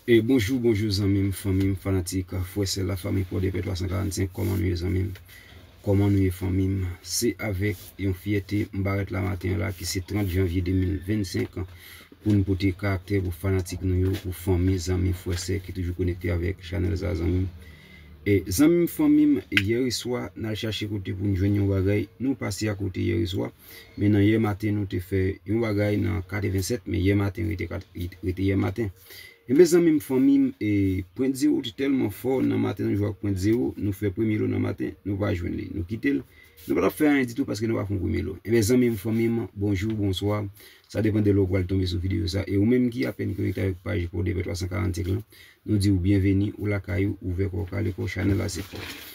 E bonjou bonjou zanmim fanmim fanatik frè sè la fanmi pòdepè 345 kòman nou ye zanmim kòman nou ye fanmim se avèk yon fyète m parèt la maten an la ki se 30 janvye 2025 an pou n pote karaktè pou fanatik nou yo pou fanmi zanmi frè sè ki toujou konekte avèk chanèl sa a zanmim e zanmim fanmim yèreswa n al chache kote pou n jwenn yon bagay nou pase akote yèreswa Men nan yè maten nou te fè yon bagay nan 87 men yè maten rete rete yè maten. Enben zanmi m fanmi m e pwent zero te tèlman fò nan maten nou jwe ak pwent zero nou fè premye lo nan maten nou pa jwenn li nou kite l nou pa t ap fè anyen ditou paske nou pa fon premye lo. Enben zanmi m fanmi m bonjou bonswa sa depan de lè w pral tonbe sou videyo sa e ou menm ki apèn konekte avèk paj Pòdepè 345 lan nou di w byenveni ou lakay ou ouvè kò w kale kò w chanèl la se pa w.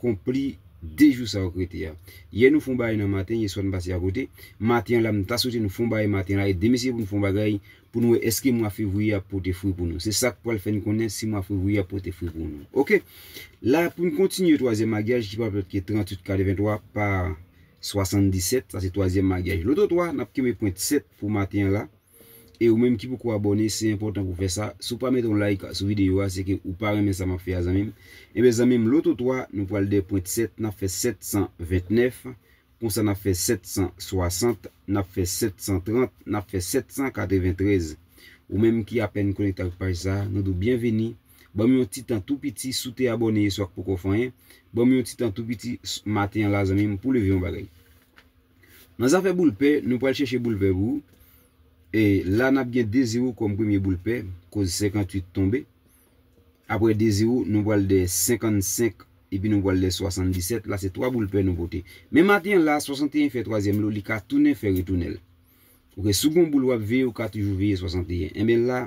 konpli 2 jou sa wap rete a yè nou fon bagay nan maten yeswa nou pase akote maten an la m ta swete nou fon bagay maten an la e demen se pou nou fon bagay pou nou wè eske mwa fevriye ap pote fri pou nou se sak pwal fè n konnen si mwa fevriye ap pote fri pou nou ok la pou n kontinye twazyèm magyaj ki pap lòt ke 38 kare 23 pa 77 sa se twazyèm magyaj loto 3 nap kenbe pwent 7 pou maten an la. E ou menm ki poko abòne se enpòtan pou fè sa, si w pa mete yon like sou videyo a se ke ou pa renmen sa map fè a zanmim, enben zanmim loto 3 nou pral dè pwent 7 nap fè 729 konsa nap fè 760 nap fè 730 nap fè 793 ou menm ki apèn konekte ak paj sa nou di w byen vini banm yon ti tan tou piti si w te abòne yeswa k poko fè anyen banm yon ti tan tou piti maten an la zanmim pou leve yon bagay. Nan zafè boul pè, nou pral chèche boul vè pou ou. E la nap gen Dezirou kòm premye boul pè, koz 58 tonbe. Aprè Dezirou, nou pral dè 55 epi nou pral dè 77, la se 3 boul pè nou pote. Men maten an la, 61 fè twazyèm lo, li ka tounen fè retounenl. Ok, si w gon boul wap veye ou ka toujou veye 61. Enben la.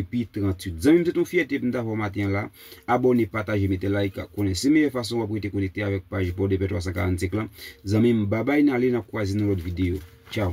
epi 38. Zanmi m se t yon fyète pou m ta fè w maten an la. Abòne, pataje, mete like ak konnen se meyè fason wap rete konekte avèk paj Port de paix 345 lan zanmi m babay nale nap kwaze nan lòt videyo tchao.